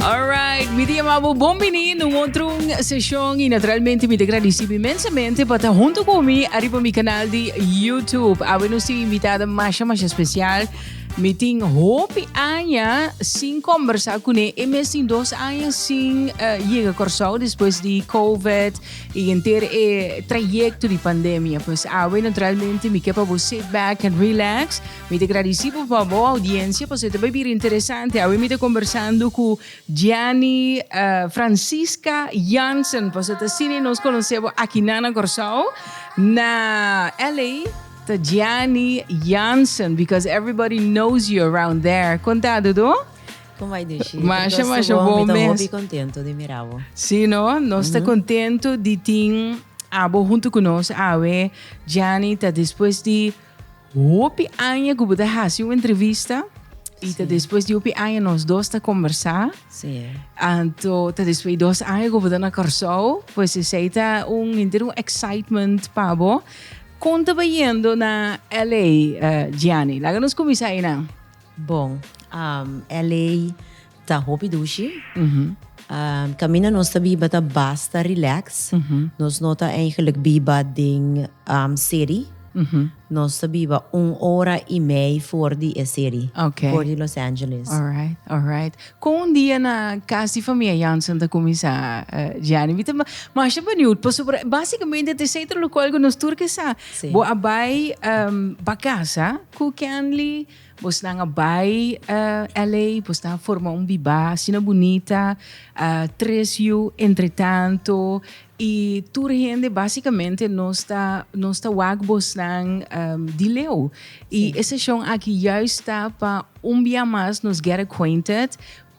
Alright, mi te llamaba bon bini no otro sesión y naturalmente mi te agradeci inmensamente pa ta junto con mi arriba mi canal di YouTube. Awe nos tin invitada masha masha special. Mi tin hopi aña sin conversa con e. E mes tin dos aña sin uh, llega Curaçao después di COVID y enter e trayecto di pandemia. Pues awe naturalmente mi ke pa bo sit back and relax. Mi ta gradisí bo pa bo audiencia pasobra ta bai bira interesante. Awe mi ta conversando cu Gianny eh, Francisca Jansen pasobra ta sini nos conoce bo akinan na Corsou. Na LA ta Gianny Jansen because everybody knows you around there. Con ta Dodo? Como ai Dushi? Te Masha, gosto masha, bo, bon mi ta mes. hopi contento di mira bo. Sí, no? Nos ta contento di tin abo hunto cu nos awe. Gianny ta despues di Hopi aña ku bo ta hasi un entrevista i ta despues di hopi aña nos dos ta kombersá. Sí. Anto ta despues di dos aña ku bo ta na Kòrsou, pues esei ta un henter un excitement pa bo. Kon ta bayendo na LA, Gianni? Laga nos kuminsá einan. Bon, LA. Ta hopi dushi. Kaminda nos ta biba ta basta relax. Nos no ta eigenlijk biba den seri. Nos ta biba un ora i mei for di e seri. Okay. For di Los Angeles. Alright, alright. Kon un dia na kas di famia Jansen ta kuminsá, Gianni? Mi ta masha beniut pasobra por basikamente ta esei ta lokual ku nos tur ke sa. Si. Bo a bai ba kasa ku Kenley. Bosnan a bai LA, bosnan a forma un bibá asina bunita, tres yu, entretanto, i tur hende basikamente nos ta nos ta wak bosnan di leu. I e seshon aki juist ta pa un bia mas nos get acquainted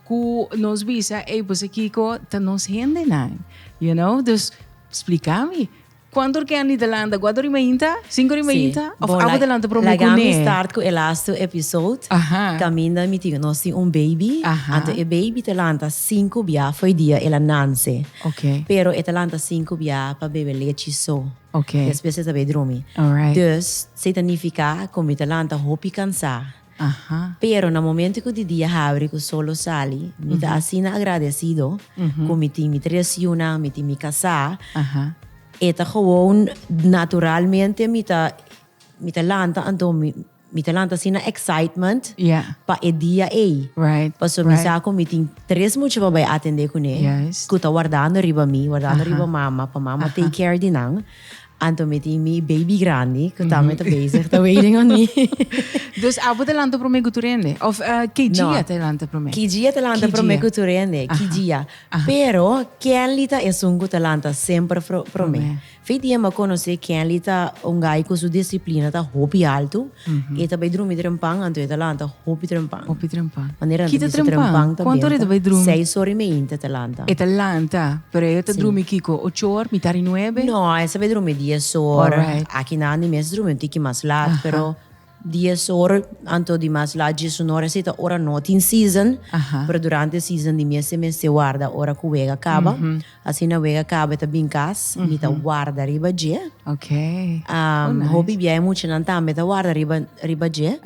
ku nos bisa ey bos a kiko ta nos hendenan, you know, dus splika mi. Cuanto ken di delanta guato di mainta cinco di mainta of abo delanta pro mi cune. Lagami start cu e lasto episode caminda mi tin nos tin un baby anto e baby ta lanta cinco bia for e dia el a nance pero e ta lanta cinco bia pa bebe lechi so despues e ta bay drumi dus si ta nifica cu mi ta lanta hopi cansa Pero na momento cu di dia habri cu sol lo sali, mi ta asina agradecido cu mi tin mi tres yunan, mi tin mi casa. E ta gewoon naturalmente mi ta, mi ta lanta anto mi, mi ta lanta asina excitement pa e dia ey. Pasobra mi sa cu mi tin tres mucha pa bay atende cune, cu ta wardando riba mi, wardando riba mama, pa mama take care di nan. Anto mi tin mi baby grandi ku tambe ta bezig ta waiting on me. Dus abo ta lanta promé ku tur hende? Of ki dia ta lanta promé? Ki dia ta lanta promé ku tur hende? Ki dia. Pero Kenly ta esun ku ta lanta semper promé. Fin di hende a konosé Kenly ta un guy ku su disiplina ta hopi altu. E ta bai drumi trempan, anto e ta lanta hopi trempan. Hopi trempan. Manera nan ta bisa trempan ta bienta, seis ora i meinti e ta lanta. E ta lanta, pero e ta drumi kiko? Ocho or, mita di nuebe? No, e sa bai drumi dies or. Aki nan e mes drumi un tiki mas lat, pero dies or anto di mas lat dies un or esei ta ora no tin season, pero durante season di mes e mester warda ora ku wega kaba, Asina wega Cabe ta bin cas, mi ta warda riba dje. Hopi biaha e muchanan tambe ta warda riba riba dje.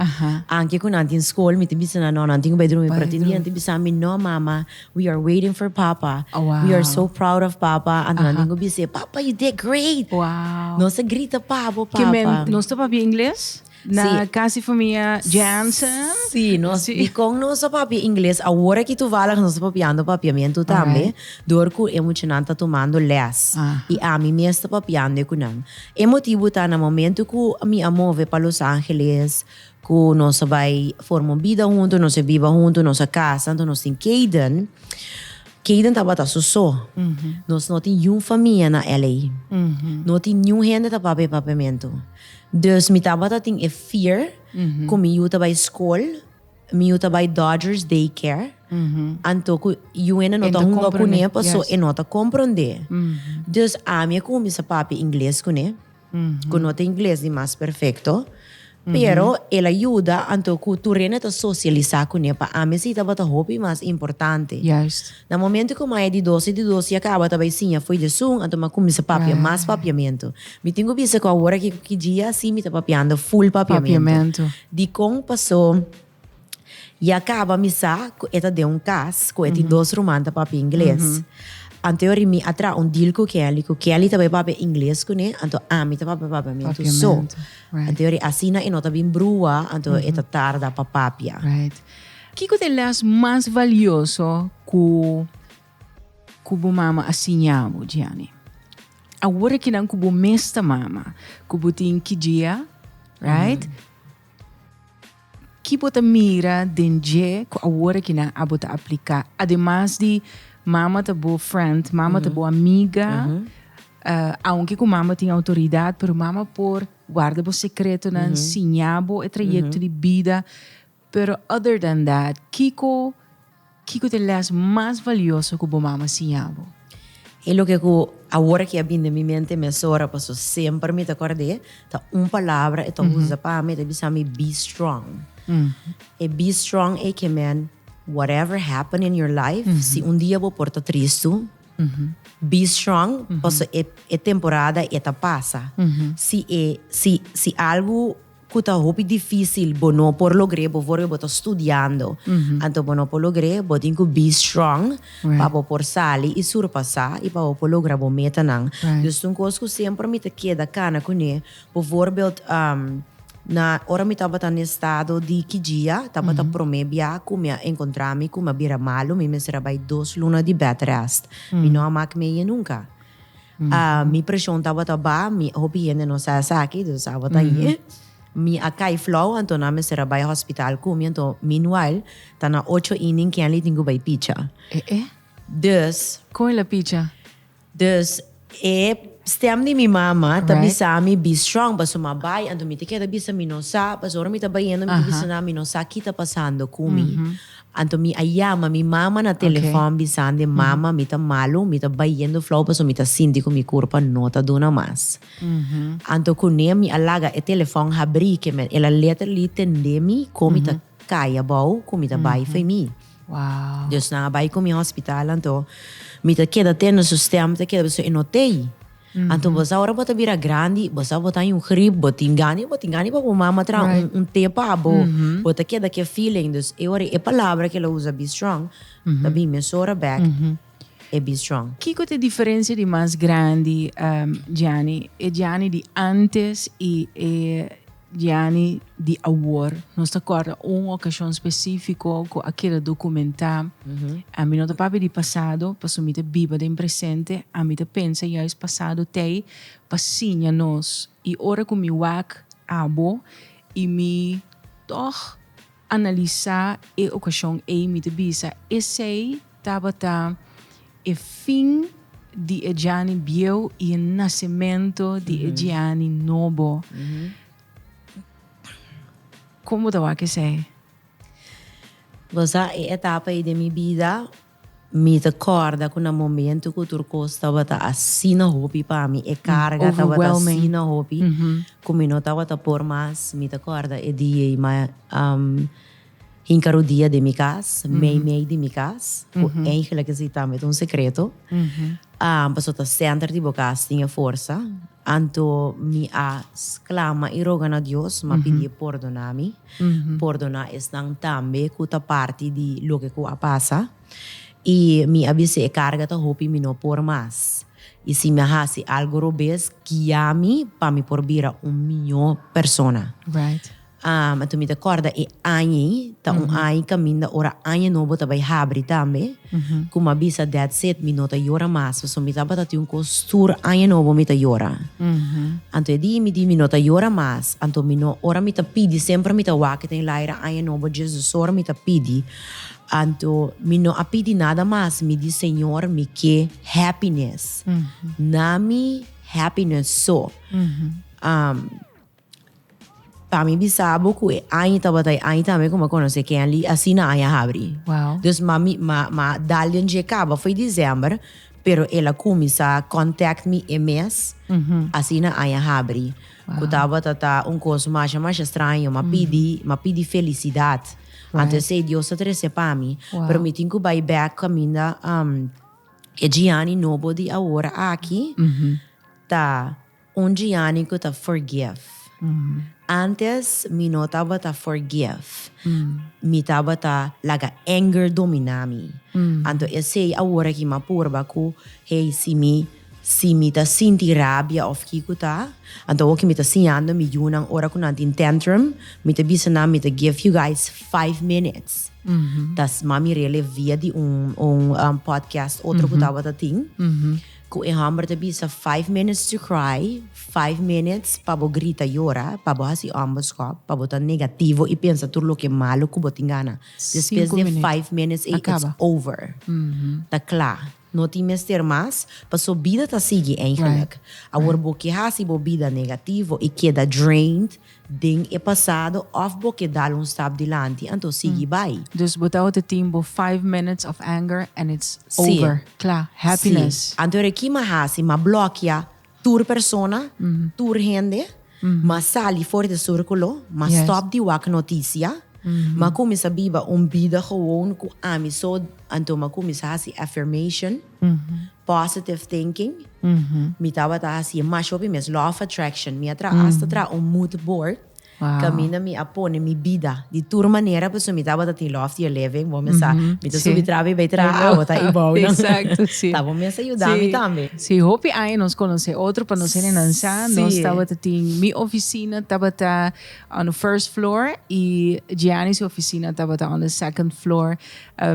Anke cu nan tin scol, mi ta bisa nan, no, nan tin cu bay drumi. Pero tin dia nan ta bisa mi, no mama, we are waiting for papa. We are so proud of papa. Anto nan tin cu bis'é, papa, you did great! Nos ta grita pa bo, papa. Nos ta papia Ingles? Na casi famia Jansen. Sí, nos dicon nos a papia ingles, awor aki toevallig nos a papiando papiamento tambe, door cu e muchanan ta tumando les y ami mes ta papiande cu nan. E motibo ta na momento cu mi a move pa Los Angeles, cu nos a bay forma un bida hunto, nos a biba hunto, nos a casa, enton nos tin Kayden, Kayden tabata su so, nos no tin yiun famia na LA. No tin niun hende ta papia e papiamento. Dus mi tabata tin e fear cu mi yu ta bay school, mi yu ta bay Dodgers day care, anto cu Juene no ta hunga cu ne paso e no ta compronde. Dus ami a cuminsa papia ingles cu ne, cu no ta ingles di mas perfecto, pero el a yuda anto cu tur Rene ta socialisa cu ne, pa ami esey tabata hopi mas importante. Na momento ku Maya di dos e di dos ya kaba ta bai siña fo'i dje sun, anto m'a kuminsá papia mas papiamentu. Mi tin ku bisa ku awor aki ku ki djia si mi ta papiando ful papiamentu. Dikon pasó ya kaba mi sa ku e ta den un kas ku e tin dos ruman ta papia ingles. Anto yo rimí a traha un deal ku Kelly ku Kelly ta bai papia ingles kuné anto ami ta papia papiamentu so. Anto yo ri asina e no ta bin brua anto e ta tarda pa papia. Kiko ta e lès mas valioso ku ku bo mama a siña bo, Gianni? Awor aki nan ku bo mes ta mama, ku bo tin ki djia, right? Mm -hmm. Ki bo ta mira den dje ku awor aki nan abo ta apliká? Ademas di mama ta bo friend, mama mm -hmm. ta bo amiga, mm -hmm. uh, aunke ku mama tin outoridat, pero mama por warda bo sekretonan, mm -hmm. siña bo e trayekto mm -hmm. di bida, Pero other than that kiko kiko t'e les mas valioso ku bo mama siña bo? E loke ku awor aki a bini den mi mente mesora paso semper mi ta kord'e ta un palabra e tok usa pa mi e ta bisa mi be strong. E be strong ei ke men whatever happen in your life si un dia bo por ta tristu be strong paso e temporada ei ta pasa si e si si algu cu ta hopi dificil bo no por logr'e bo for bo ta studiando anto bo no por logr'e bo tin cu be strong pa bo por sali y surpasa y pa bo por logra bo metanan dus ta un cos cu semper mi ta keda cana cu ne bo for belt na ora mi tabata na e estado di kidjia tabata prome bia cu mi a encontra mi cu mi a bira malo mi mester a bay dos luna di bed rest mi no a mak meje nunca. Mi preshon tabata ba, mi hopi hende no sa esaki, dus tabata ahí. Mi a kai flou, anto nan a mester a bai hospital ku mi, anto meanwhile ta na ocho i nin Kenley tin ku bai picha. Dus, Kon el a picha? dus e stem di mi mama ta bisa mi be strong, pasobra mi a bai, anto mi ta keda bisa mi no sa, pasobra ora mi ta bai hende mi ta bisa nan mi no sa ki ta pasando ku mi. Anto mi a yama mi mama na telefòn bisandi, Mama, mi ta malu, mi ta bayendo flou pasobra mi ta sinti ku mi kurpa no ta duna mas. Anto kuné mi a laga e telefòn habrí ke men el a letterly tendé mi kon mi ta kai abou ku mi ta bai for mi. Dus nan a bai ku mi hospital, anto mi ta keda tenda su stèm ta keda pasobra e no tei. Anto bo sa ora bo ta bira grandi bo sa bo ta in grip bo tin gana bo tin gana pa bo mama tra un te pa bo bo ta keda ke feeling dus e ora e palabra ke el a usa be strong ta bin mesora bek e be strong. Kiko ta e diferensia di mas grandi Gianni e Gianni di antes i e Dian'e di awor nos ta kòrda un okashon spesífiko ku a keda dokumentá. Ami no ta papia di pasado, pasobra mi ta biba den presente. Ami ta pensa yais pasado ta ei pa siña nos. I ora ku mi wak abo i mi tòg. Analisá e okashon ei mi ta bisa esei tabata e fin di e Djani bieu i e nasementu di e Djani nobo. Kon bo ta wak esei? Bo sa e etapa ei den mi bida Mi ta corda cu na momento cu tur cos tabata asina hopi pa mi, e carga tabata asina hopi, cu mi no tabata por mas, mi ta corda e dia ei, ma hinca rodia den mi cas, mei mei di mi cas, cu eindelijk is ei tambe ta un secreto, pasobra ta center di bo cas tin e forsa. Anto mi a sclama i roga na Dios, mi a pidié pordona mi, pordona esnan tambe cu ta parti di loke cu a pasa. I mi a bis'é e carga ta hopi, mi no por mas. I si mi a haci algo robes, guia mi pa mi por bira un miñó persona. Am, anto mi ta corda e aña ey, ta un aña caminda ora aña nobo ta bay habri tambe, cu ma bisa that's it, mi no ta yora mas, pasobra mi tabata tin un cos stuur aña nobo mi ta yora. Anto e dia mi di mi no ta yora mas, anto mi no, ora mi ta pidi, semper mi ta wak den laira aña nobo djes dos ora mi ta pidi, anto mi no a pidi nada mas, mi di Señor mi ke happiness, na mi happiness so. Am. Pa mi bisa bo cu e aña tabata e aña tambe cu mi a conoce Kenley asina aña habri. Wow. Dus ma mi ma ma dal den dje caba foi december pero el a cuminsa contact mi e mes asina aña habri cu tabata ta un cos masha masha straño ma pidi ma pidi felicidad anto esey Dios ta trece pa mi pero mi tin cu bay back caminda e Gianni nobo di awor aki ta Un Gianni cu ta forgive. Antes mi no tabata forgive. Mi tabata laga anger domina mi. Anto esey awor aki mi a purba cu, hey, si mi, si mi ta sinti rabia of kico ta, anto awor cu mi ta siñando mi yunan ora cu nan tin tantrum, mi ta bisa nan, mi ta give you guys five minutes. Ta sma mi relev via di un, un podcast otro cu tabata tin. Ku e hòmber ta bisa, Five minutes to cry, five minutes pa bo grita yora, pa bo hasi òmberskòp, pa bo ta negativo i pensa tur loke malu ku bo tin gana. Despues di e five minutes ei, it's over. Ta kla. No tin mester mas, pasobra bida ta sigui, eigenlik. Awor bo ke hasi bo bida negativo i keda drained Den e pasado of bo ke dal un stap dilanti anto sigui bai. Dus bo ta ote tin bo five minutes of anger and it's over, kla, happiness. Si, anto reki ma hasi ma blokia tur persona, tur hende, ma sali for di surkulo, ma stop di wak notisia, ma kuminsa biba un bida gewoon ku ami so, anto ma kuminsa hasi affirmation. Positive thinking, mi tabata hasi e masha hopi mes. Law of attraction, mi a traha asta traha un mood board, kaminda mi a pone mi bida di tur manera pasobra mi tabata tin law of the eleven, bo mi sa, mi ta subi traba i bai traha awa ta ibao nan. Ta bo mes a yuda mi tambe. Si, hopi aña nos konosé otro pa nos hende nan sa, nos tabata tin, mi ofisina tabata on the first floor i Gianni su ofisina tabata on the second floor.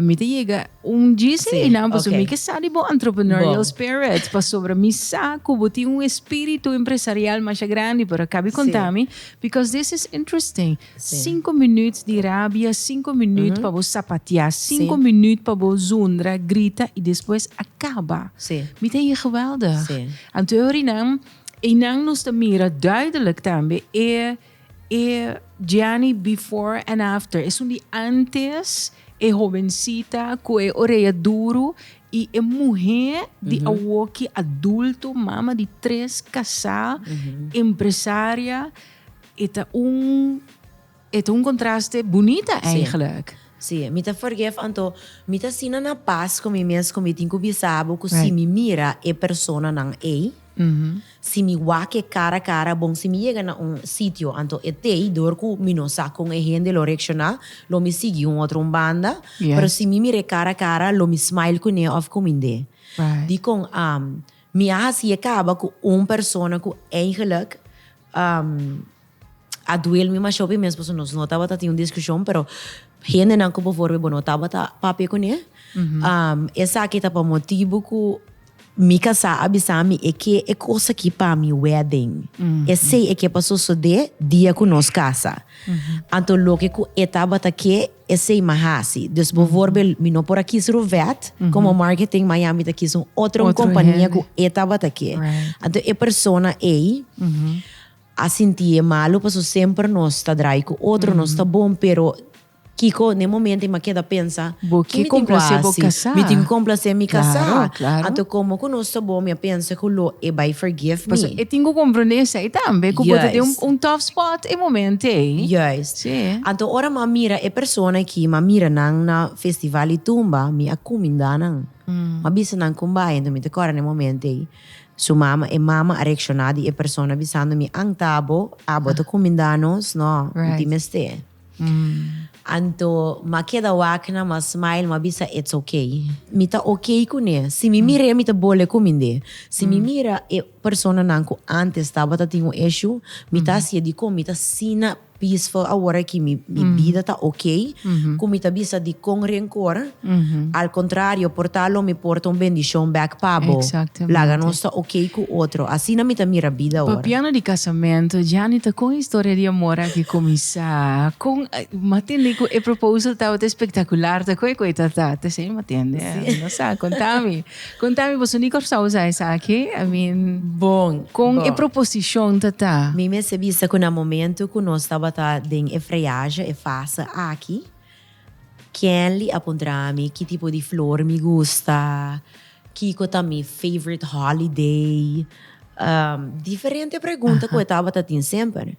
Mi ta yega un djis ei nan pasobra mi ke sa di bo entrepreneurial spirit pasobra mi sa ku bo tin un espiritu empresarial masha grandi pero a kabi konta mi because this is interesting sinku minüt di rabia sinku minüt pa bo sapatia sinku minüt pa bo zundra grita i despues a kaba mi ta yega geweldig anto e ori nan ei nan nos ta mira duidelijk tambe e E Gianni before and after, esun di antes, e hobencita cu e orea duru y e muher di awoki adulto, mama di tres, casá, empresaria, e ta un, e ta un contraste bunita eigenlijk. Sí, mi ta forgive anto mi ta asina na paz cu mi mes cu mi tin cu bisa abo cu si mi mira e personanan ey, Si mi wak-e kara kara, bon si mi yega na un sitio anto e tei dor ku mi no sa kon e hende lo reakshoná, lo mi sigui un otro un banda, pero si mi mir'é kara kara lo mi smile kuné òf kumind'é. Dikon mi a hasié kaba ku un persona ku eigenlik. A duel mi mashó pi mes pasobra nos no tabata tin un diskushon, pero hendenan ku before bo no tabata papia kuné, esaki ta pa motibu ku mi kasá a bisa mi e ke e kos aki pa mi wedding. Esei e ke pa sosodé dia ku nos kasa. Anto loke ku e tabata ke, esei mi a hasi. Dus bovorbel mi no por a kis Rovet komo marketing, ma ya mi ta kis un otro, un kompania ku e tabata ke. Anto e persona ei. a sintié malu paso semper nos ta drai cu otro nos ta bon pero kico n'e momento i m'ha keda pensa ki mi tin cu haci mi tin cu complacé mi casá anto como cu nos ta bon mi a pensa cu lo e bai forgive mi paso e tin cu comprende esai tambe cu bo ta den un tough spot e momento ei juist si anto ora m'ha mira e persona ki m'ha mira nan na festival di tumba mi a cuminda nan m'ha bisa nan con bai anto mi ta corda n'e momento ei. Su mama, e mama a reakshoná di e persona bisando mi angta bo, abo ta kumindá nos, no, no tin mester. Anto mi a keda wak nan, mi a smile, mi a bisa it's ok. Mi ta ok kuné, si mi mir'é mi ta bole kumind'é. Si mi mira e personanan ku ántes tabata tin un eshú, mi ta hasié dikon mi ta asina. Peaceful awor aki mi bida ta ok cu mi ta bisa dicon rencor al contrario por ta lo mi porta un bendicion back pa bo laga nos ta ok cu otro asina mi ta mira bida awor. Pa piano di casamento Janita con historia di amor aki cuminsa? Con matende cu e proposal tabata espectacular ta cu e cu e ta ta? Tese matende? Mi no sa, conta mi. Contami boso ni Corsao sa esaki? I mean bon con e proposicion ta ta? Mi mester bisa cu na momento cu nos tabata den e friaje, e fase aki, Kenly a puntrami ki tipo di flor mi gusta, kico ta mi favorite holiday, diferente pregunta cu e tabata tin semper.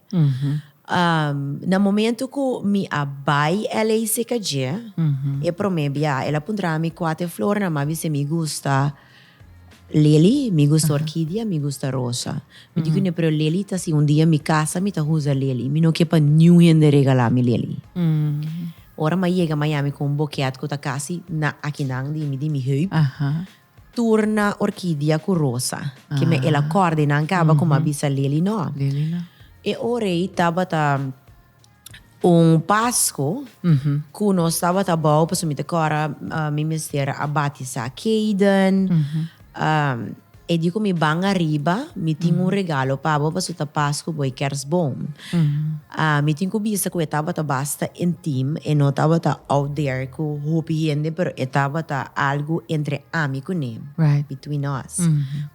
Na momento cu mi a bay LA seca dje, e prome bia, el a puntra mi cuate flor na ma, bis'e mi gusta lily, mi gusta orquidea, mi gusta rosa. Mi di cu ne, pero lily ta si un dia mi casa mi ta huza lily, mi no ke pa niun hende regala mi lily. Ora m'a yega Miami cu un boket cu ta casi na akinan di mi heup, Tur na orkidia ku rosa. Ke me el a kòrda i nan kaba kuma bisa leli nò. Leli nò. E ora ei tabata un Pasko ku nos tabata bou pasobra mi ta kòrda mi mester a batisá Kaden. E di ku mi ban ariba mi tin un regalo pa bo pasobra ta Pasko bo e kèrsboom. Mi tin ku bisa ku e tabata basta intim, e no tabata out there ku hopi hende, pero e tabata algu entre ami ku ne, between us,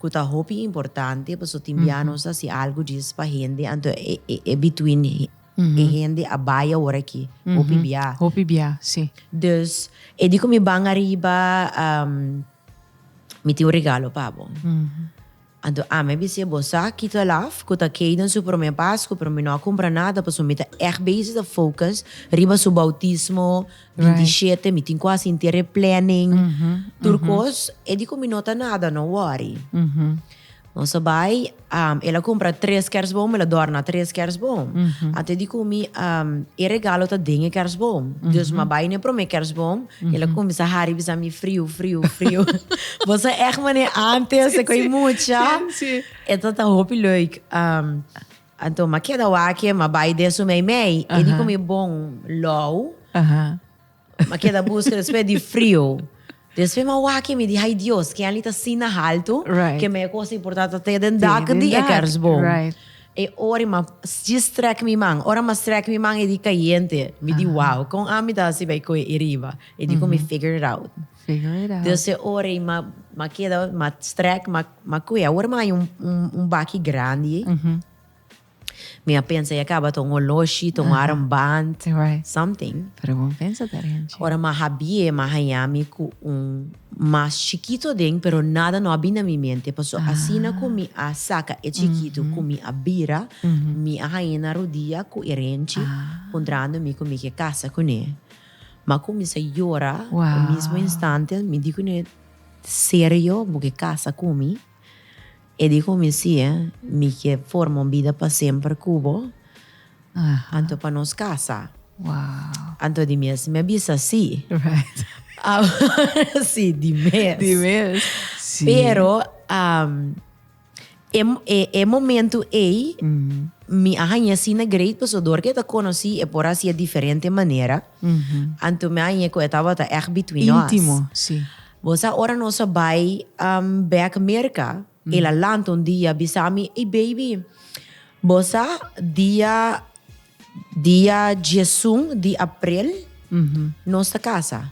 ku ta hopi importante, pasobra tin bia nos a hasi algu djis pa hende, anto e between e hende a bai aworakí hopi bia. Hopi bia, si. Dus, e di ku mi ban ariba, mi tin un regalo pa bo. Anto ami a bisa ebo sa, kito el af, ku ta kei den su promé Pasku, pero mi no a kumpra nada, pasobra mi ta ègt bezig ta focus riba su boutismo, binti i shete, mi tin ku a sintié replenning, tur kos, e di ku mi no ta nada, no wòri. Nos a bai, el a kumpra tres kèrsboom, el a dòrna tres kèrsboom. Anto e di ku mi, e regalo ta den e kèrsboom, dus mi a bai na e promé kèrsboom, Y el a cuminsa hari bisa mi frio, frio, frio. Vos a echt mane antes cu e mucha. E tata hopi leuk. Um, anto ma keda wake, ma bai den su mei mei. E di cu mi bon lou. Ma keda busca despues di frio. Despues ma wake mi di, hay Dios, ken ali ta asina halto, ke mei cosa importante ta den dak di e kersboom. E ori ma dje strek mi man, ora ma strek mi man e di kayente. Mi di wow, kon ami ta hasi pa e kohe ei riba? E di kon mi figure it out. Figure it out. Dus e ora ei ma, ma keda, ma strek, ma, ma kohe. Awor mi a haña un baki grandi ei. Mi a pensa, ya kaba ta un holoshi, ta un armband, something. Pero bon pensa ta Renchi. Ora ma habie, ma haña mi ku un mas chikitu aden pero nada no a bin na mi mente paso asina ku mi a saka e chikitu ku mi a bira mi a haña na rodia ku e renchi puntrando mi ku mi ke kasa kuné ma ku mi sa yora e mismo instante mi di kuné serio bo ke kasa ku mi? E dijo, Mi si e, mi ke forma un bida pa semper ku bo, anto pa nos kasa. Anto di mes mi a bisa si. Awor si di mes. Pero, e momentu ei mi a hañ'e asina great pasodor ke ta konosí e por a hasié diferente manera. Anto mi a hañ'e ku e tabata ègt between nos. Intimo. Bo sa ora nos a bai bek Merca, el a lanta un dia bisa mi, Ey baby, bo sa dia dia diesun di aprel nos ta casa?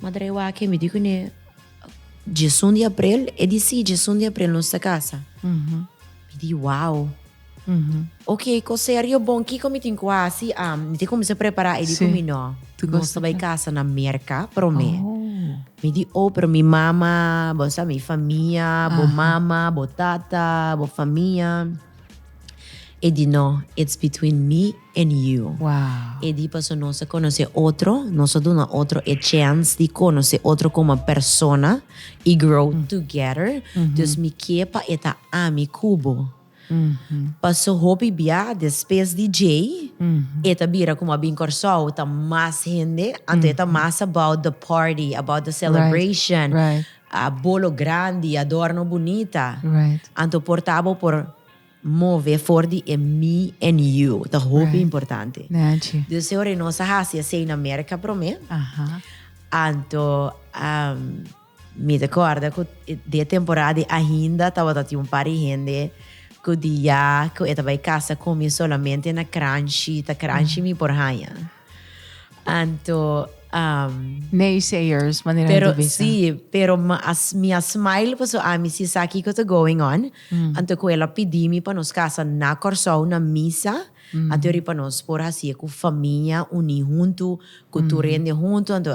Mi a drai wak, mi di ku ne, diesun di aprel? E di si, diesun di aprel nos ta casa. Mi di wow! Ok, ko serio bon kiko mi tin ku hasi? Mi tin kuminsá prepará. I di ku mi, No, nos ta bai kasa na Merka promé. Mi di, Oh, pero mi mama, bo sa mi famia, bo mama, bo tata, bo famia. E di, No, it's between me and you. E di, Paso nos a konosé otro, nos a duna otro e chèns di konosé otro komo persona i grow together. Dus mi ke pa e ta ami ku bo. Paso hopi bia despues di djei e ta bira como a bin Corsou ta mas hende anto e ta mas about the party about the celebration bolo grandi adorno bunita anto por ta bo por move for di e me and you ta hopi importante dus e ora nos a hasi esey na Merca prome anto. Mi ta kòrda ku di e temporada di Ahinda tabata tin un par di hende ku di ya ku e ta bai kasa ku mi solamente na kranshi, ta kranshi mi por haña. Anto, Naysayers, manera nan ta bisa. Pero si, pero mi a mi a smile paso ami si sa kiko ta going on. Anto ku el a pidi mi pa nos kasa na Kòrsou na misa. Anto riba nos por hasié ku famia uní huntu, ku tur hende huntu. Anto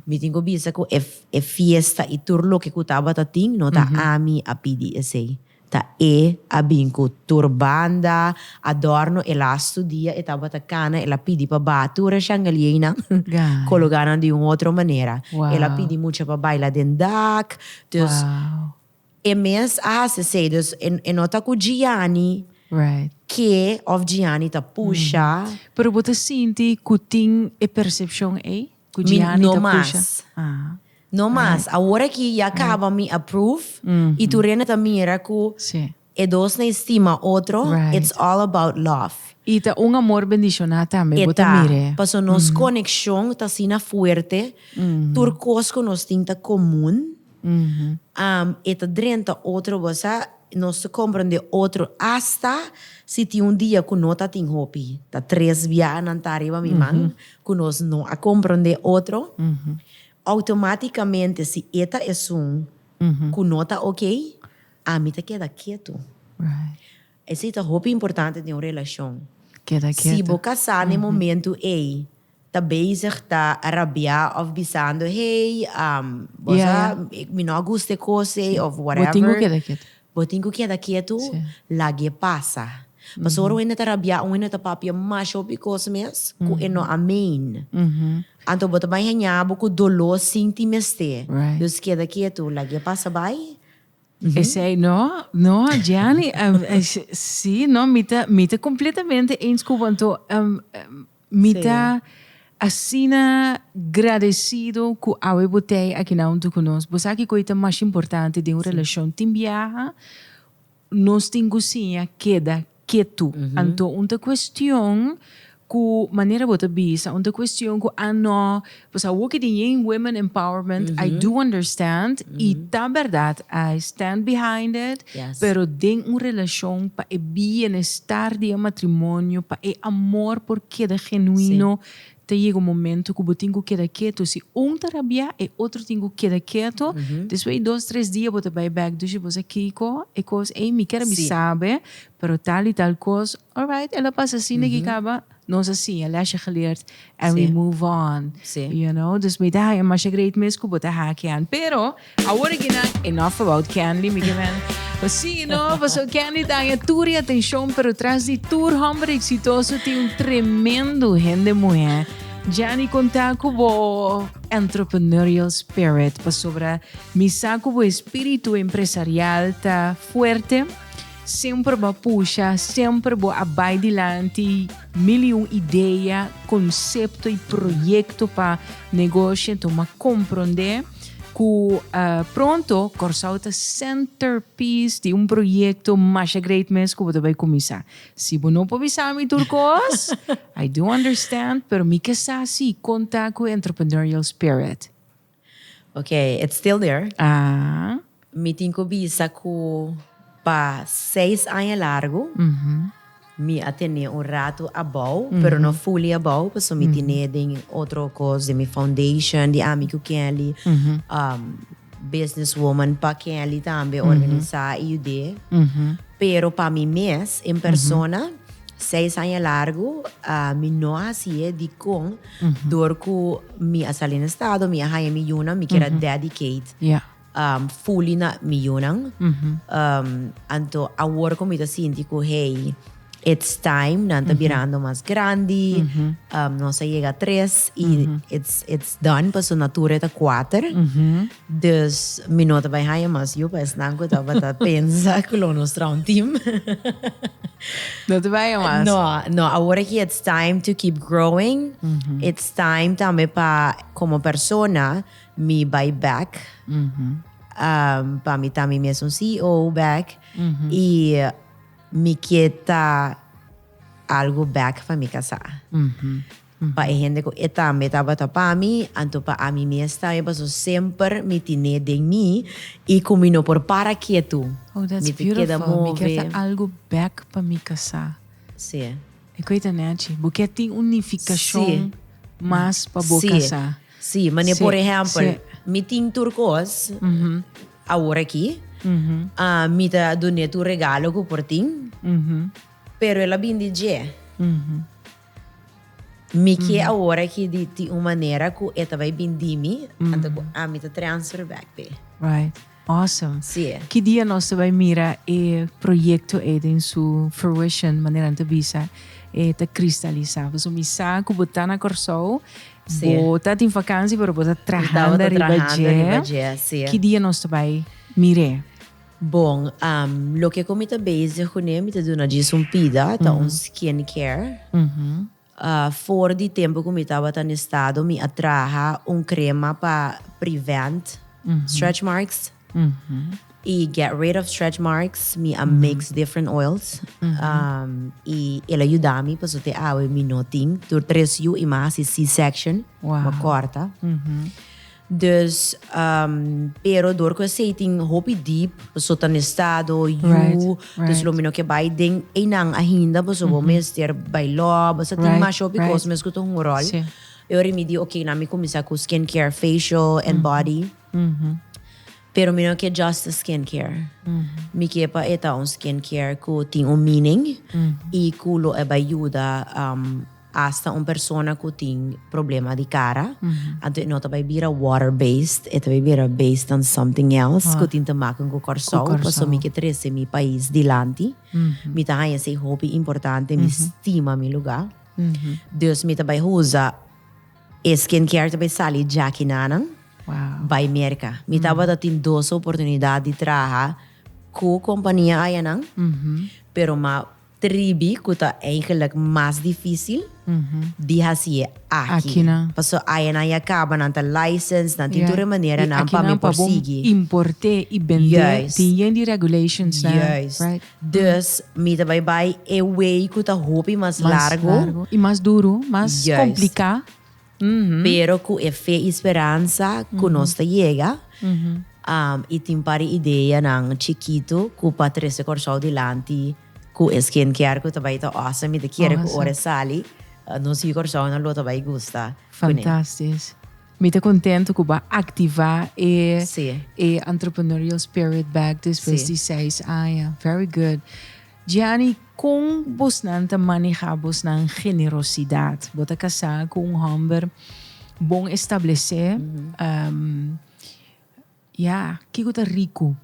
mi tin ku bisa ku e e fiesta i tur loke ku tabata tin no ta ami a pidi esei. Ta e a bin ku tur banda, adorno. E lastu dia e tabata kana el a pidi pa ba tur e shangalienan kologá nan di un otro manera. El a pidi mucha pa baila den dak. Dus. E mes a hasi esei, dus e e no ta ku Gianni Right. ke òf Gianni ta pusha. Pero bo ta sinti ku tin e persepshon ei? Ku Mi Gianni no ta mas. pusha? Ah. No mas. Awor aki ya kaba mi approve i tur hende ta mira ku Sí. e dos na estima otro, Right. it's all about love. I ta un amor bendishoná tambe, E bo ta ta, mir'e. paso nos konekshon ta asina fuerte, tur kos ku nos tin ta komun. e ta drenta otro basa, nos ta comprende otro hasta si tin un dia cu no ta tin hopi, ta tres biaha nan ta ariba mi man cu nos no a comprende otro, automaticamente si e ta esun cu no ta ok, ami ta keda ketu. Esey ta hopi importante den un relacion. Si bo casa na e momento ey. ta bezig ta rabiá of bisando hey bos a mi no a gusta e cos ey of whatever. Bo tin cu keda ketu. Bo tin cu keda ketu lagu'e pasa. Pasobra un hende ta rabiá un hende ta papia masha hopi cos mes cu e no a meen. Anto bo ta bay haña bo cu doló sin tin mester. Dus keda ketu lagu'e pasa bay. Esey no no Gianni si no mi ta mi ta completamente eens cu bo anto Mi ta asina gradecido cu awe bo t'ey aki na hunto cu nos. Bo sa kico y ta mas importante den un relacion. Tin biaha nos tin cu siña keda ketu. Anto un ta cuestion cu manera bo ta bisa, un ta cuestion cu ano. Pues a woke di yin women empowerment mm -hmm. I do understand mm -hmm. y ta verdad I stand behind it yes. pero den un relacion pa e bienestar di e matrimonio pa e amor por keda genuino sí. te llega un momento ku bo tin ku keda keto si un ta rabia e otro tin ku keda keto mm -hmm. después dos tres dia bo ta bai back dushi bo sa kiko e kos ei mi kera sí. mi sabe pero tal y tal kos Alright e lo pas así neki caba nos así a lesje geleerd and we move on you know dus mi ta haña masha great mes cu bo ta haki an pero awor aki nan enough about Kenley mi ke wens bo si no paso Kenley ta haña tur e atencion pero tras di tur homber exitoso tin un tremendo hende muhe Jenny conta cu bo entrepreneurial spirit pasobra mi sa cu bo espiritu empresarial ta fuerte Semper bo a pusha, semper bo a bai dilanti, mil i un idea, konsepto i proyekto pa negosho. Enton bo a komprondé ku pronto Kòrsou ta senterpiece di un proyekto masha great mes ku bo ta bai kuminsá. Si bo no por bisa mi tur kos, I do understand, pero mi ke sa si konta ku Entrepreneurial Spirit. Ok, it's still there. Ah. Mi tin cu bisa cu pa seis aña largu mi a tene un rato abao, pero no fully abao, pasobra mi tene den otro cos den mi foundation di ami cu Kenly, business woman pa Kenly tambe organisa y yud'é. Pero pa mi mes en persona, seis aña largu mi no haci'é dicon. Dor cu mi a sali na estado, mi a haña mi yunan, mi kier a dedicate fully na mi yunan. Anto awor cu mi ta sinti cu hey, it's time, nan ta birando mas grandi, nos a yega tres y it's it's done, pasobra natura e ta kuater. Dus mi no ta bai haña mas yu pa esnan ku tabata pensa ku lo nos traw un tim. No ta bai haña mas. No, no, awor aki it's time to keep growing. It's time tambe pa komo persona mi bai back. Pa mi ta mi mes un CEO back i mi ke ta algu back pa mi kasá. Pa e hende ku e tambe tabata pa mi, anto pa ami mes tambe, paso semper mi tine den mi i ku mi no por para ketu, Oh, that's mi ta keda beautiful. Mi kier ta move. algu bèk pa mi kasá. Sí. E ku ei ta nèchi. Bo kier tin un nifikashon Sí. mas pa bo Sí. kasá. Sí, mane Sí, por ehèmpel, sí. mi tin tur kos awor aki. Ah, mi ta dun'é tur regalo ku por tin, pero el a bin di dje. Mi ke awor aki di tin un manera ku e ta bai bindi mi, anto ku ami ta transfer bek pa e. Right. Awesome. Sí. Ki dia nos ta bai mira e proyekto ei den su fruition, manera nan ta bisa, e ta kristalisá? Pasobra mi sa ku bo ta na Kòrsou, bo ta tin vakansi pero bo ta trahanda riba dje. Ki dia nos ta bai mir'é? Bon, loke ku mi ta bezig ku ne, mi ta duna djis un pida, ta un skin care. For di tempu ku mi tabata na estado mi a traha un krema pa prevent stretch marks i get rid of stretch marks, mi a mix different oils i el a yuda mi paso te awe mi no tin tur tres yu i mi a hasi c-section, mi a kòrta. Dus pero dor ku esei tin hopi deep paso ta na estado yu dus lo mi no ke bai den einan ainda paso bo mester bai lò basta tin masha hopi kos mes ku ta hunga ròl e ora mi di oke nan mi kuminsá ku skin care facial and body. Pero mi no ke just a skin care. Mi ke pa e ta un skin care ku tin un meaning i ku lo e bai yuda um asta un persona ku tin problema di kara. Anto e no ta bai bira water based, e ta bai bira based on something else ku tin te maken ku Kòrsou. Ku Kòrsou. Paso mi ke trese mi pais dilanti. Mi ta haña esei hopi importante, mi stima mi lugar. Dus mi ta bai usa. E skin care ta bay sali djakinana bay Merca. Mi tabata tin dos oportunidad di traha cu compania ayanan, pero m'a tribi, cu ta eigenlijk mas dificil, di haci'e aki. Paso ayanan ya caba, nan ta licensed, nan tin tur e manera nan pa mi por sigui. Juist. Juist. Dus mi ta bai bai e way cu ta hopi mas largo. Mas largo y mas duro, mas complica. Pero cu e fe y speransa cu nos ta yega y tin pari ideanan chikito cu pa trece Corsow dilanti cu e skin care cu ta bai ta awesome. Mi ta kere cu ora e sali nos yu Corsounan lo ta bai gusta cu ne. Fantastisch. Mi ta contento cu bo a activa e e entrepreneurial spirit back despues di seis aña. Very good. Gianni, con bosnan ta maneha bosnan generosidad? Bo ta casa cu un homber bon establece. Ya, kiko ta riku?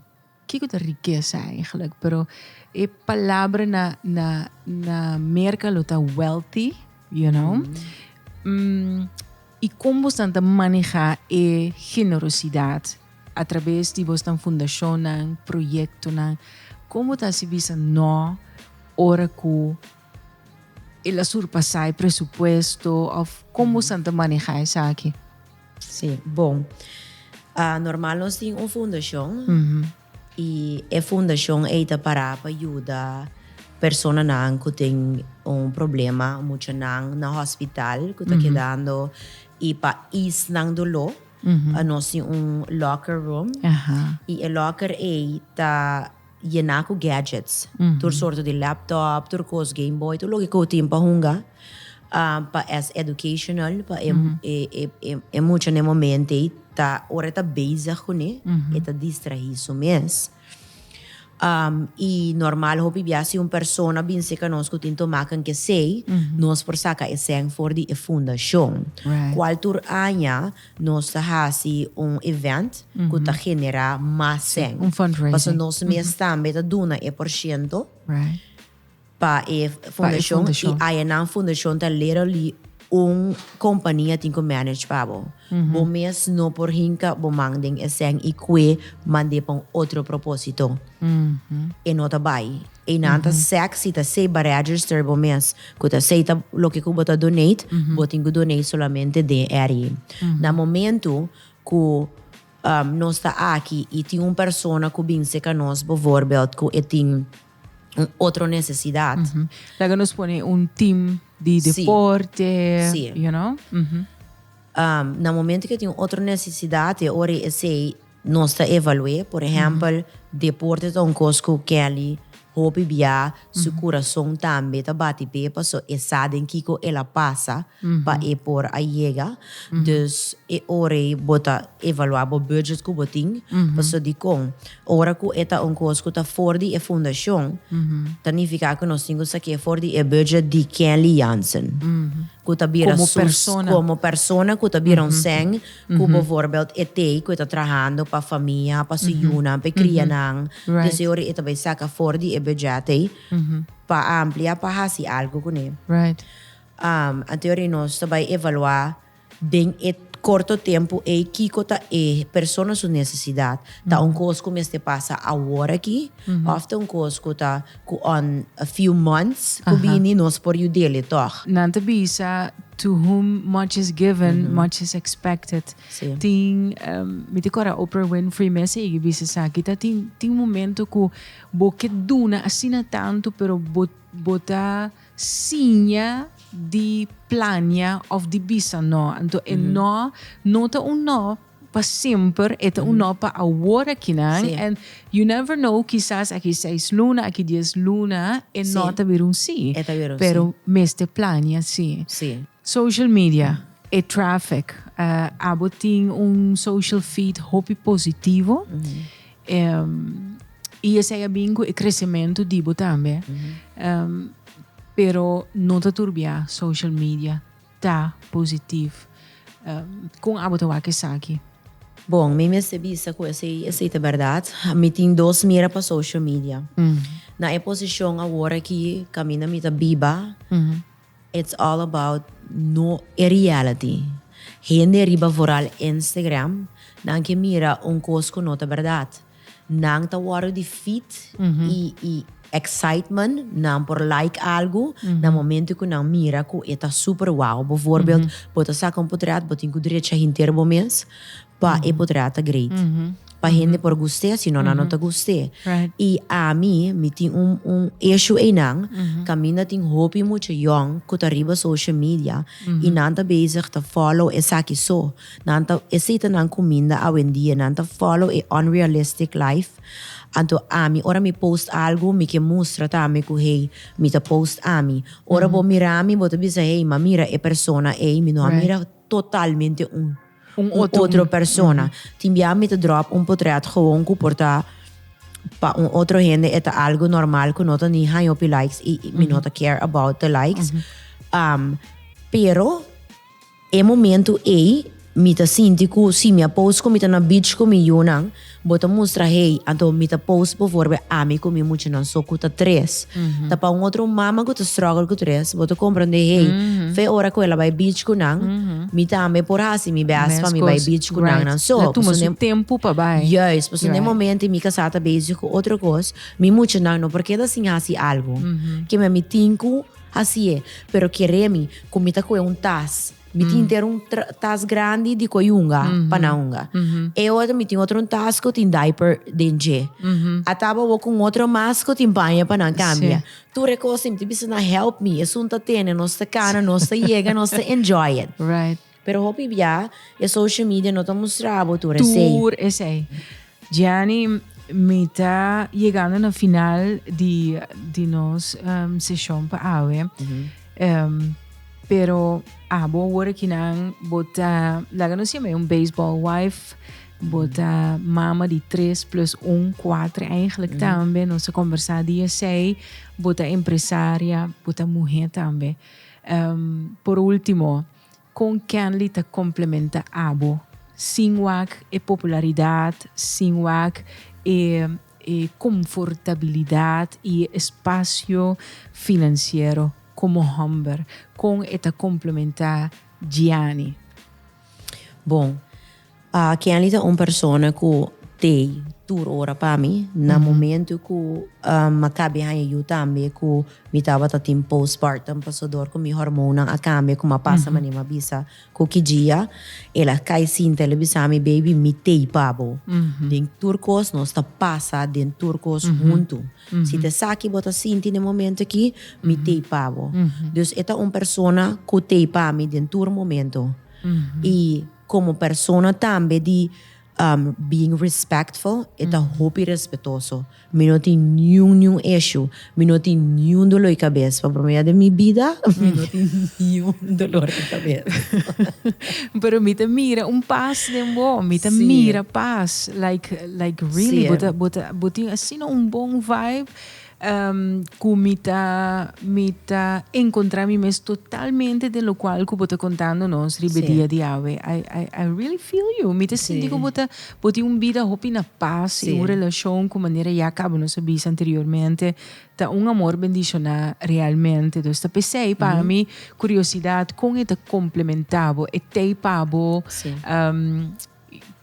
Kiko ta rikesa eigenlik? Pero e palabra na na na Merka lo ta wealthy, you know. Mm, y kon bos tan ta maneha e generosidad a traves di bos tan fundacionnan, proyectonan? Kon bo ta hasi bisa no ora ku El a surpasá e presupuesto of kon bo san ta manehá esaki? Sí, bon. Normal nos tin un fundashon i e fundashon ei ta pará pa yuda personanan ku tin un problema, muchanan na hòspital ku ta kedando i pa is nan doló nos tin un locker room i e locker ei ta yená ku gadgets. Tur sorto di laptop, tur kos, Game Boy, tur loke ku bo tin pa hunga. Pa es educational, pa e, e, e, e, e mucha na e momento ei ta, ora e ta bezig kuné, e ta distrahí su mes. I normal hopi bia si un persona bin seka nos ku tin tomakan kesei, nos por saka esèn for di e fundashon. Right. Kual tur aña. Nos ta hasi un event cu ta genera mas den. Un fundraising. Pasobra nos mes tambe ta duna e por ciento pa e fundacion. Y ayenan fundacion ta literally un compania tin cu manage pa bo. Bo mes no por hinca bo man den e cen y cue mande pa un otro proposito. E no ta bay. Einan ta sec si ta sei baregister bo mes cu ta sei ta loke cu bo ta donate bo tin cu donate solamente den area. Na momento cu um nos ta aki y tin un persona cu binse ca nos bovoorbeeld cu e tin un otro necesidad. Laga nos pone un team di deporte you know. Si. Um na momento cu e tin otro necesidad e ora esey Nos ta evalu'é, por ehèmpel, deporte ta un kos ku Kelly hopi biá, su kurason tambe ta bati p'e paso e sa den kiko el a pasa pa e por a yega. Dus e ora ei bo ta evaluá bo bùdget ku bo tin, paso dikon? Ora ku e ta un kos ku ta for di e fundashon, ta nifiká ku nos tin ku sak'é for di e bùdget di Kelly Jansen, ku ta bira su, komo persona ku ta bira un sèn. Ku bo voorbeeld e tei ku e ta trahando pa famia, pa su yunan, pa e krianan, di esei ora e ta bai saka for di e budget ei pa amplia, pa hasi algu kuné. Anto ora nos ta bai evaluá den e korto tempu ei kiko ta e persona su nesesidat. Ta un kos ku mester pasa awor aki òf ta un kos ku ta Cu on a few months cu bini nos por yudele toch. Nan ta bisa to whom much is given, much is expected. Tin, mi ta cora Oprah Winfrey mes a yegi bisa esaki, ta tin tin momento cu bo ke duna asina tanto pero bo bo ta siña di plania of di bisa no. Anto e no no ta un no. Pa semper e ta un no pa awor aki nan en you never know kisas aki seis luna aki dies luna e no ta bira un si pero mester plania si. Social media e traffic abo tin un social feed hopi positivo y esey a bin cu e crecemento di bo tambe pero no ta turbia social media Ta positivo. Con abo ta wak esaki? Bon, mi mester bisa cu esey, esey ta berdad. Mi tin dos mira pa social media. Na e posicion awor aki caminda mi ta biba, it's all about no e reality. Hende riba vooral Instagram, nan ke mira un cos cu no ta berdad. Nan ta wordo di feet y excitement, nan por like algo na momento cu nan mira cu e ta super wow. Bijvoorbeeld, bo ta saca un potret, bo tin cu drecha henter bo mes pa e potret ta great. Pa hende por gust'e, si no nan no ta gust'e. Y ami, mi tin un issue eynan, caminda tin hopi mucha yong cu ta riba social media y nan ta bezig ta follow esaki so. Nan ta esita nan cuminda awendia, nan ta follow e unrealistic life. Anto ami ora mi post algo mi ke mustra tambe cu hey mi ta post ami. Ora bo mira mi bo ta bisa hey ma mira e persona ey mi no a mira totalmente un otro persona. Tin bia mi ta drop un potret gewoon cu por ta pa un otro hende e ta algo normal cu no ta ni haña hopi likes y mi no ta care about de likes pero. E momento ei mi ta sinti cu si mi a post cu mi ta na beach cu mi yunan, bo ta mustra hei, anto mi ta post bo for be ami cu mi muchanan so cu ta tres. Ta pa un otro mama cu ta struggle cu tres, bo ta comprende hei, fe ora cu el a bay beach cu nan, mi tambe por haci mi best pa mi bay beach cu nan nan so. Right. La tuma su tempo pa bay. Juist. Pasobra n'e momento ei mi casá ta bezig cu otro cos, mi muchanan no por keda sin haci algo. Keme mi tin cu. Así e, pero kere mi ku mi ta kohe un tas. Mi tin henter un tra, tas grandi di kohe hunga, pa nan hunga. E otro, mi tin otro un tas ku tin diaper den dje. A taba bo ku un otro mas ku tin baño pa nan kambia. Tur e kos, mi ta bisa nan, help me, esun ta tene, nos ta kana, nos ta yega, nos ta enjoy it. Pero hopi bia e social media no ta mustra bo tur esey. Tur esey. Gianni, mi ta yegando na final di di nos seshon pa awe. Pero abo awor aki nan bo ta laga nos yama e un baseball wife, bo ta mama di tres plus un, kuater eigenlijk tambe, nos a kombersá di esey, bo ta empresaria, bo ta muhé tambe. Por último. Kon Kenley ta komplementa abo sin wak e popularidat, sin wak e e konfortabilidat i e espasio finansiero komo hòmber? Kon e ta komplementa Gianni? Bon. Pa Kenly ta un persona ku tei tur ora pa mi. Na momentu ku a kabe haña yu tambe ku mi tabata tin postpartum pasodor ku mi hormonnan a kambia kuma a pasa manera mi a bisa ku ki dia el a kai sinta el a bisa mi baby mi tei pa bo. Den tur kos nos ta pasa den tur kos huntu. Si ta esaki bo ta sinti den momento aki mi tei pa bo. Dus e ta un persona ku tei pa mi den tur momento i. Komo persona tambe di being respectful e ta hopi respetoso. Mi no tin niun niun ishu, mi no tin niun dolor di kabes. Pa promé bes den mi bida mi no tin niun dolor di kabes. Pero mi ta mira un pas den bo, mi ta mira pas like like really bo ta bo tin asina un bon vibe. cu mi ta, mi ta encontra mi mes totalmente den lo cual cu bo ta contando nos riba e dia di awe. I, I, I really feel you. Mi ta sinti cu bo ta, bo tin un bida hopi na paz y un relacion cu manera ya caba nos a bisa anteriormente ta un amor bendiciona realmente. Dus ta pesey pa mi curiosidad con e ta complementa bo, e tey pa bo,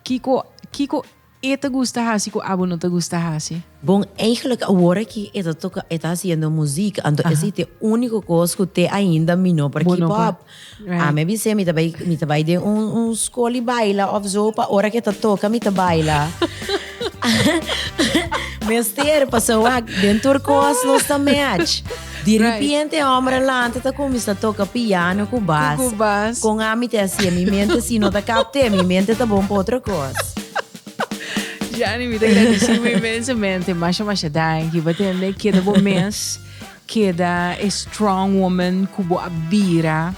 kico, kico. E ta gusta hasi cu abo no ta gusta hasi. Bon, eigenlijk awor aki e ta toca, e ta haciendo muziek, anto esey ta e unico cos cu te ainda mi no por keep up. Ami a bis'é mi ta bay, mi ta bay den un, un scoli baila of zo pa ora cu e ta toca mi ta baila. Mester, pasobra den tur cos nos ta match. Di ripiente e homber alante ta cuminsa toca piano cu bas. Cu bas. Con ami te hacia mi mente si no ta capte mi mente ta bon pa otro cos. Jani, mi ta agradecibo inmensamente. Masha, masha danki. Pa tende, keda bo mes. Keda e strong woman ku bo abira.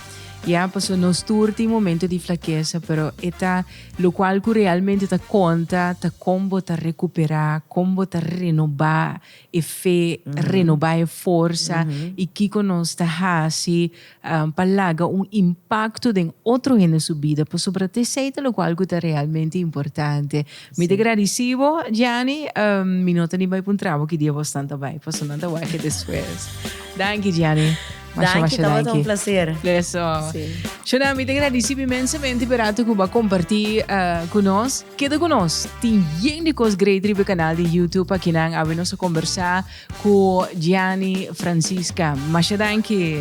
Ya, paso nos tur tin momento di flaqueza, pero eta lo cual ku realmente ta konta ta kon bo ta recuperá, kon bo ta renová e fe, renobá e forsa i kiko nos ta hasi pa laga un impakto den otro hende su bida pasobra ta esei ta loke algu ku ta realmente importante. Mi ta gradisí bo, Gianni. Mi no ta ni bai pa un trabou ki dia bosnan ta bai, pasobra nan ta wak e despues. Danki, Gianni. Danki, tabata un placer. Eso. Sí. Shona, mi te agradeci inmensamente per rato ku ba comparti uh, eh, ku nos. Keda ku nos. Tin yen di kos great ribe kanal di YouTube pa kinan abi nos a conversa ku Gianni Francisca. Masha danki.